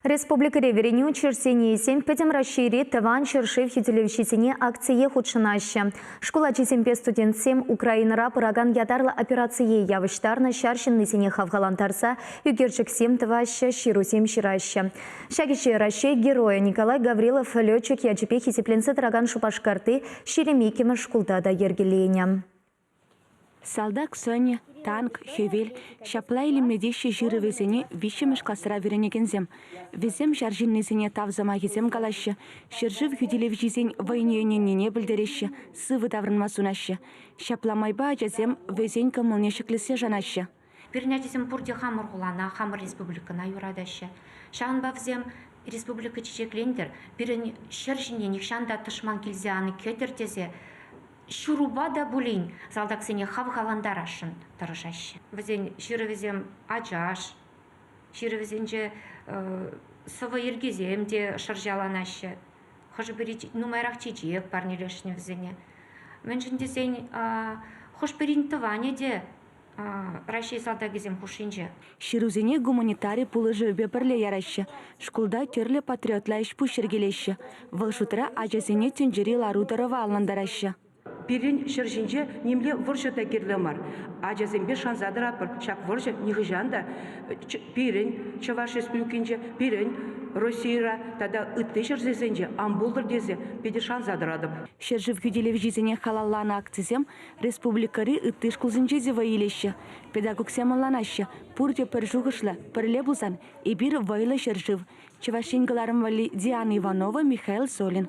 Республикӑри вӗренӳ учрежденийӗсем Пӗтӗм Раҫҫейри Тӑван ҫӗршыв хӳтӗлевҫисене акцие хутшӑнаҫҫӗ. Шкул ачисемпе студентсем Украинӑра пыракан ятарлӑ операцие явӑҫтарнӑ ҫар ҫыннисене хавхалантарса ӳкерчӗксем тӑваҫҫӗ, ҫырусем ҫыраҫҫӗ. Ҫак ӗҫе Раҫҫей Геройӗ Николай Гаврилов летчик ячӗпе хисепленсе тӑракан Шупашкарти ҫирӗм иккӗмӗш шкулта та йӗркеленӗ. Салтак сӑнӗ, танк, хӗвел, ҫапла илемле теҫҫӗ ҫырӑвӗсене виҫҫӗмӗш класра вӗренекенсем. Вӗсем ҫар ҫыннисене тав сӑмахӗсем калаҫҫӗ, ҫӗршыв хӳтӗлевҫисен вӑйне ӗненнине пӗлтереҫҫӗ, сывӑ таврӑнма сунаҫҫӗ. Ҫапла майпа ачасем вӗсен кӑмӑлне ҫӗклессе шанаҫҫӗ. Пирӗн ачасем пурте хамӑр хулана, хамӑр республикӑна юратаҫҫӗ. Ҫавӑнпа вӗсем республика чечеклентӗр, пирӗн ҫӗр ҫине нихҫан та тӑшман килсе ан кӗтӗр тесе ҫырупа та пулин салтаксене хавхалантарасшӑн тӑрӑшаҫҫӗ. Вӗсен ҫырӑвӗсем ачаш, ҫырӑвӗсенче сӑвӑ йӗркисем те шӑрҫаланаҫҫӗ. Хӑшӗ-пӗри нумайрах чечек парнелесшӗн вӗсене. Мӗншӗн тесен хӑш-пӗрин тӑванӗ те Раҫҫей салтакӗсем хушшинче. Ҫырусене гуманитари пулӑшӑвӗпе пӗрле яраҫҫӗ, шкулта тӗрлӗ патриотла ӗҫ-пуҫ йӗркелеҫҫӗ. Вӑл шутра ачасене тӗнчери лару-тӑрӑва анлантараҫҫӗ. Пирӗн ҫӗр ҫинче нимле вӑрҫӑ та кирлӗ мар. Ачасемпе шанса тӑратпӑр, ҫак вӑрҫӑ нихӑҫан та пирӗн, Чӑваш Республикинче, пирӗн, Российӑра тата ытти ҫӗрсенче ан пултӑр тесе питӗ шанса тӑратӑп. Ҫӗршыв хӳтӗлевҫисене халалланӑ акцисем Республикӑри ытти шкулсенче те вӑй илеҫҫӗ, педагогсем ӑнланаҫҫӗ. Пурте пӗр шухӑшлӑ, пӗрле пулсан, эпир вӑйлӑ ҫӗршыв. Чӑваш Ен кӑларӑм валли Диана Иванова, Михаил Солин.